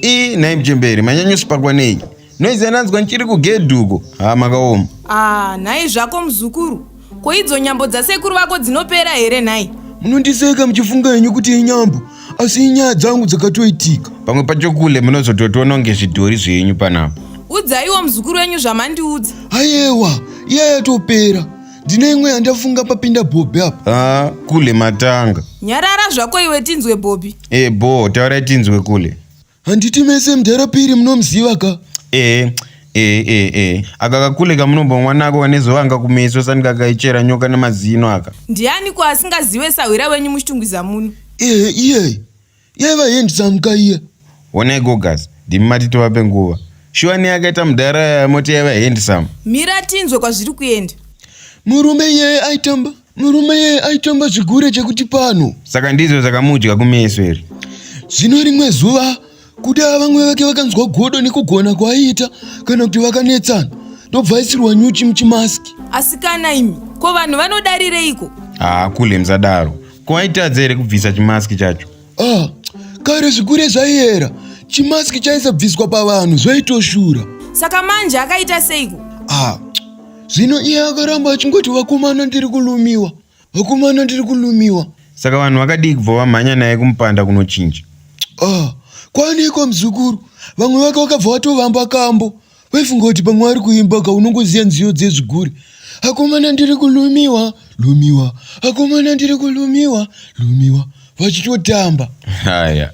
ii nhai mchemberi manyanyosipakwa nei noizi ananzwa ndichiri kugedhuko haa makaoma aa ah, nhai zvako muzukuru Ko idzo nyambo dzasekuru vako dzinopera here nhai? Munondiseka muchifunga henyu kuti inyambo asi inyaya dzangu dzakatoitika. Pamwe pacho kule munozototiona kunge zvidhori zvenyu panapa. Udzaiwo muzukuru wenyu zvamandiudza. Ayewa, iya yatopera. Ndine imwe yandafunga papinda Bobby apa. Ah, kule matanga. Nyarara zvako iwe tinzwe Bobby. Eh, bho, taurai tinzwe kule. handiti mese mdhara piri munomuziva ka ee ee ee ee aka kakule kamunomba mwana ako kane zuva anga kumeso sani kakaichera nyoka nemazino aka ndiani ko asingazive sahwira wenyu muchitungwiza muno ee iyeyi yaiva hendisamuka iya honai gogas ndimi mati tivape nguva shuwa nei akaita mudhara yaya moti yaiva hendisamu mira tinzwe kwazviri kuenda murume iyeye aitamba Murume iyeye aitonga zvigure chekuti pano. Saka ndizvo zvakamudya kumeso here? Zvino rimwe zuva kuda vamwe vake vakanzwa godo nekugona kwaaiita kana kuti vakanetsana ndobva aisirwa nyuchi muchimaski. Asikana imi, ko vanhu vanodarireiko? Haa kule musadaro. Ko aitadza here kubvisa chimaski chacho? Ah, kare zvigure zvaiyera chimaski chaisabviswa pavanhu zvaitoshura saka manje akaita seiko ah zvino iye akaramba achingoti vakomana ndiri kulumiwa vakomana ndiri kulumiwa saka vanhu vakadii kubva vamhanya naye kumupanda kunochinja ah kwaneiko muzukuru vamwe vake vakabva vatovamba kambo waifunga kuti pamwe ari kuimba ka unongoziva nziyo dzezviguri akomana ndiri kulumiwa lumiwa akomana ndiri kulumiwa lumiwa vachitotamba haya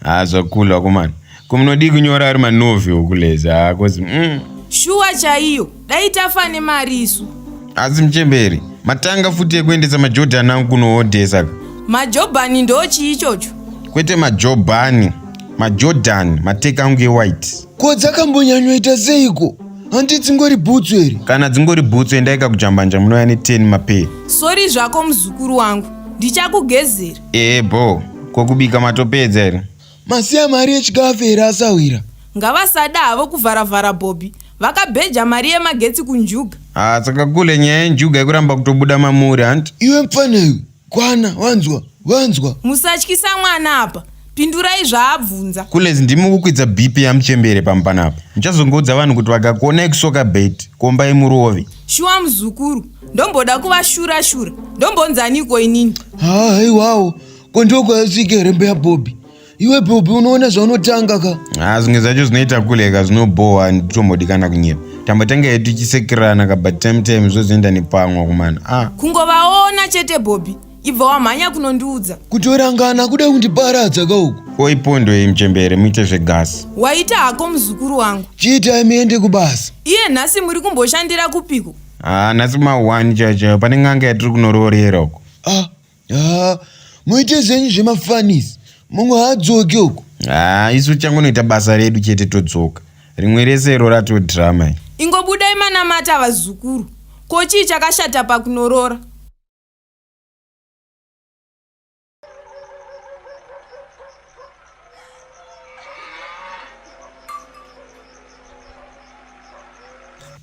haa zvakulu akomana komunodii kunyora ari manovi okuleza haa kozi mm. shuwa chaiyo dai tafa nemari isu asi muchemberi matanga futi ekuendesa majodhani angu kunoodhesa ka majobhani ndochii ichocho kwete majobhani majodhani mateka angu ewhite ko dzakambonyanyoita seiko handi dzingori bhutsu here kana dzingori bhutsu endai kakujambanja munouya ne 10 mapee sori zvako muzukuru wangu ndichakugezera ee bho ko kubika matopedza here masiya mari yechikafu here asahwira ngavasada havo kuvharavhara bhobhi vakabheja mari yemagetsi kunjuga haa saka kule nyaya yenjuga yekuramba kutobuda mamuri hanti iwe mfana iwe Kwana wanzwa wanzwa. Musatyisa mwana apa. Pindurai zvaabvunza. Kulez ndimi kukwidza BP yamuchembere pamu panapa. Muchazongoudza vanhu kuti vakakuona ikusoka bait komba imurovi. Shuwa muzukuru. Ndomboda kuva shura shura. Ndombonzaniko inini? Haa haiwawo. Ko ndokwayasvike rembe yaBobby. iwe bobi unoona zvaunotanga ka ah zvinge zvacho zvinoita kule ka zvinobhowa nditombodikana kunyepa tambotanga yedu tichisekirana ka but time time zvozoenda nepamwa kumana ah kungovaona chete bobi ibva wamhanya kunondiudza kutorangana kuda kundiparadza ka uku oi pondo iyi mchembere muite zvegasi waita hako muzukuru wangu chiitai muende kubasa iye nhasi muri kumboshandira kupiko ah nhasi ma1 chachayo pane n'anga yatiri kunoroorera uko ah haa muite zvenyu zvemafanis mumwe haadzoke uko haa isu changonoita basa redu chete todzoka rimwe rese iro ratoo drama ingobudai manamata vazukuru ko chii chakashata pakunorora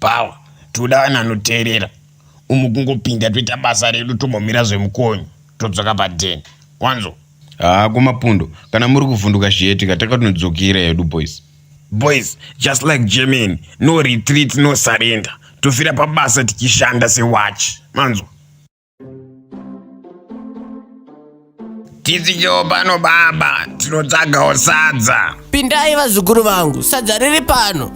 power toda vanhu vanoteerera umu kungopinda toita basa redu tombomira zvemukonyo todzoka paden wanzo haa kumapundo kana muri kuvhunduka zviyetika takatinodzokera yedu boys boys just like germany no retreat no surrender tofira pabasa tichishanda sewachi manzwa Tidzingewo pano baba, tinotsagawo sadza. Pindai vazukuru vangu, sadza riri pano.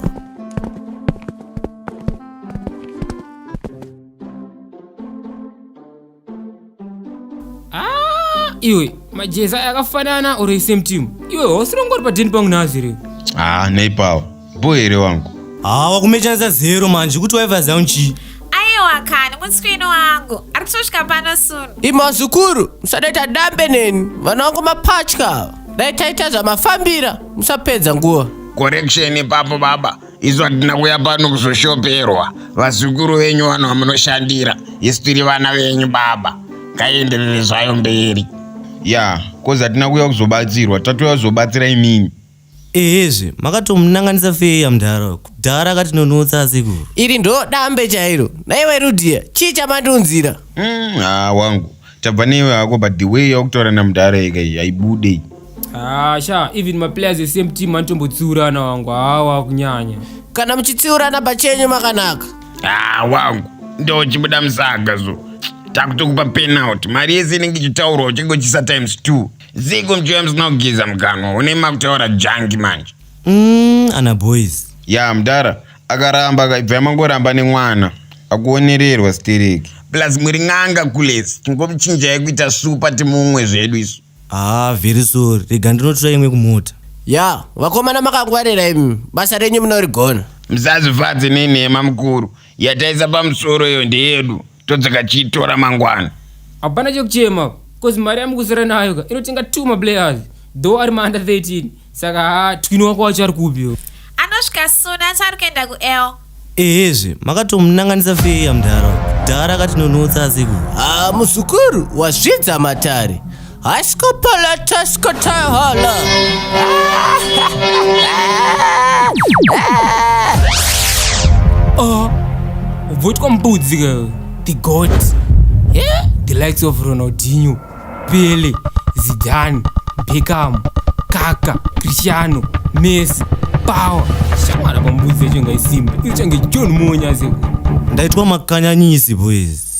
Ah, iwe majeza akafanana or same team iwe hausi rongori padheni pangu nhazi iri Ah, neipawo. Bho here wangu? Haa wakumechanisa zero manje kuti waiva zanu chii? Aiwa kani mutswini wangu ari kutosvika pano soon. Imazukuru musadaita dambe neni vana wangu mapatya ava. Dai taita zvamafambira musapedza nguva. Correction ipapo baba. Isu hatina kuya pano kuzoshoperwa. Vazukuru venyu vanhu vamunoshandira. Isu tiri vana venyu baba. Ngaienderere zvayo mberi. Ya, kozi hatina kuya kuzobatsirwa. Tatouya kuzobatsira imimi. ehezve makatomunanganisa feya mdhara kudhara akatinonotsa asekuru iri ndo dambe chairo naiwe rudia chii chamandiunzira Mm, haa wangu tabva newe hako but the way yaukutaura namudhara yeka iyi haibudei Ah, sha even maplayers esame team anotombotsiurana wangu hawa kunyanya kana muchitsiurana pachenyu makanaka haa wangu ndochibuda musaga so takutokupa penalty mari yese inenge ichitaurwa uchinge uchisa times two Zigo mjm zinogiza mukanwa une makutaura janki manje. Mm, ana boys. Ya mdara akaramba akaibva mangoramba nemwana akuonererwa stereki. Plus muri n'anga kulesi tingomchinjai kuita supa timumwe zvedu isu. Ah, very sorry. Rega ndinotora imwe kumota. Ya, vakomana makangwarira imi. Basa renyu munorigona. Msazvifadze nenhema mukuru yataisa pamusoro iyo ndeyedu. todzika chiitora mangwana hapana chekuchema bcause mari yamukusara nayo ka inotenga two maplayers though ari maanda 13 saka haa twini wako wacho ari kupi anosvika soon asi ari kuenda kuel ehezve makatomunanganisa feya mdhara mdhara akatinonotsa asiku Ah, muzukuru wasvidza matare Haskopalataskotaholo. Oh, vote kwa mbudzi girl. The goat. Yeah. The likes of Ronaldinho, Pele, Zidane, Beckham, Kaka, Cristiano, Messi, Power. Shamara kwa mbudzi yacho ngaisimbe. Ichange John Monya zeko. ndaitwa makanyanyisi boys